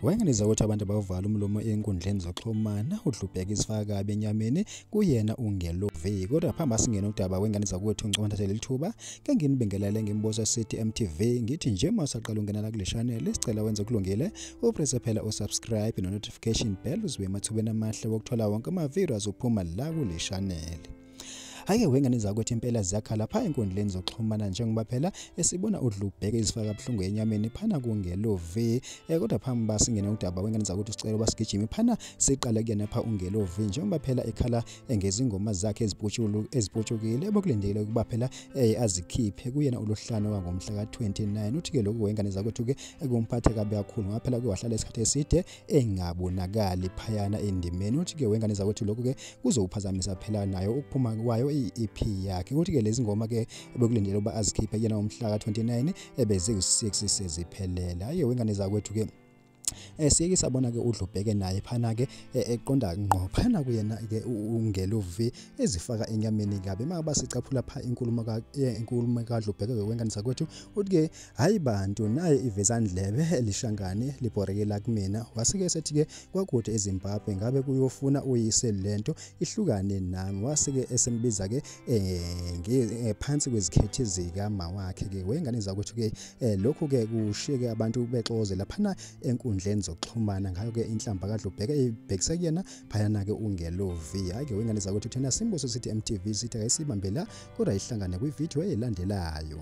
wayengeneza ukuthi abantu bavala umlomo enkundleni zoxhumana udlubheka isifaka kabi enyameni kuyena ungelovi kodwa phambi asingena udaba wengane zakwethu ngicela ngithathele lithuba ke nginibingelele ngimbuza sithi MTV ngithi nje uma usaqala ungenela kule channel sicela wenze kulungile upresse phela usubscribe no notification bell uzibe emathubeni amahle wokuthola wonke ama videos uphuma la kule channel Hake wengane zakwethu impela ziyakhala pha enkundleni zokuxhumana njengoba phela esibona udlubheke izifaka buhlungu enyameni phana kungelovi eh, kodwa phambi basingene udaba wengane zakwethu sicela ubasigijimi phana siqale kuyena pha ungelovi njengoba phela ekhala ngezingoma zakhe eziputshulu eziputshukile bokulindele ukuba phela eh, azikhiphe kuyena uluhlano wangomhla ka-29 uthi-ke lokhu wengane zakwethu-ke kumphathe kabi kakhulu ngoba phela kuwahlala isikhathi eside engabonakali phayana endimeni uthi-ke wengane zakwethu lokhu-ke kuzowuphazamisa phela nayo ukuphuma kwayo i-ep yakhe ukuthi-ke lezi ngoma-ke bekulindele ukuba azikhiphe yena umhlaka 29 ebeziwu-6 seziphelele hhayi wengane zakwethu-ke eh siyeke sabona ke udlubheke naye phana ke eh, eqonda ngqo phana kuyena ke ungeluvi ezifaka enyameni kabe maka basicaphula pha inkulumo ka eh, inkulumo ka dlubheke wengane sakwethu uthi ke hayi bantu naye ivezandlebe elishangane libhorekela kumina wasike esethi-ke kwakude ezimbabwe ngabe kuyofuna uyise le nto ihlukane nami wasike esembiza-ke um phansi kwezikhethi zikama wakhe-ke wengane zakwethu-ke um eh, lokhu-ke kushiye-ke abantu bexoze laphana enkundleni zokuxhumana ngayo-ke inhlamba kadlubheka ibhekise kuyena phayana-ke ungelovi hhayi-ke wengane zakwethu thina simbuso sithi mtv sithi akayisibambela kodwa ihlangane kwividiyo elandelayo